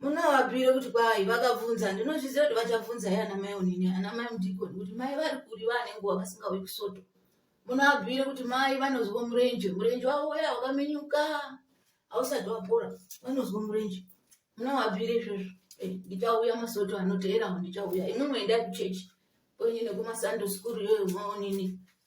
munovabire kuti kwai vakabvunza ndinozviziva kuti vachabvunza ye ana mai onini ana mai mudikoni kuti mai vari kuri vane nguva vasingauyi kusoto munovabire kuti mai vanozwa murenje murenje wavo uya wakamenyuka hausati wapora vanozwa murenje munovabire izvozvo eh, ndichauya masoto anoteerawo ndichauya imwe mweenda kuchechi kwenyu nekumasando skuru yoyo maonini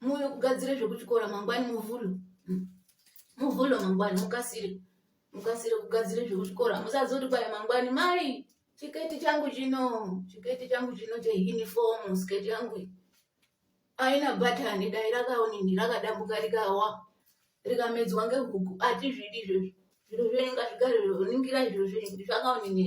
muuye kugadzire zvekuchikora mangwani muvhulo hmm. muvhulo mangwani mukasire mukasire kugadzire zvekuchikora musazoti kwai mangwani mai chiketi changu chino chiketi changu chino cheuniform sketi yangu aina bhatani dai rakaonini rakadambuka rikawa rikamedzwa ngehuku atizvidi izvozvo zviro zvenyu ngazvigare ningirai zviro zvenyu kuti zvakaonini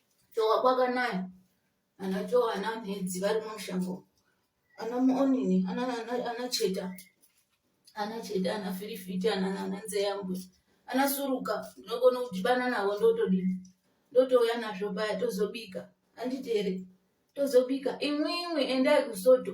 Chowa kwakanaya ana chowa ana mhedzi vari mumushango ana muonini ana ana ana cheta ana cheta ana firifiti ana ana nzeyambwe ana suruka ndinogona kudhibana navo ndotodini ndotouya nazvo paya tozobika anditi here tozobika imwimwi endai kusoto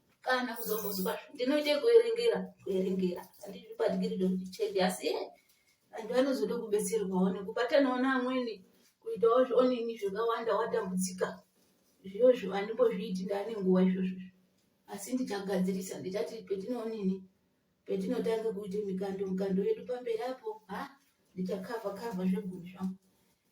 kana kuzombozuva ndinoite kuerengera kuerengera andizvipatikiri ndokuchedi asi e antu anozoda kubetserwawo nekubatanawo neamweni kuitawo zvionini zvakawanda watambudzika izvozvo andimbozviiti ndaane nguva izvozvo asi ndichagadzirisa ndichati petinoonini petinotanga kuita mikando mikando yedu pamberi apo ha ndichakava kava zvegumi zvangu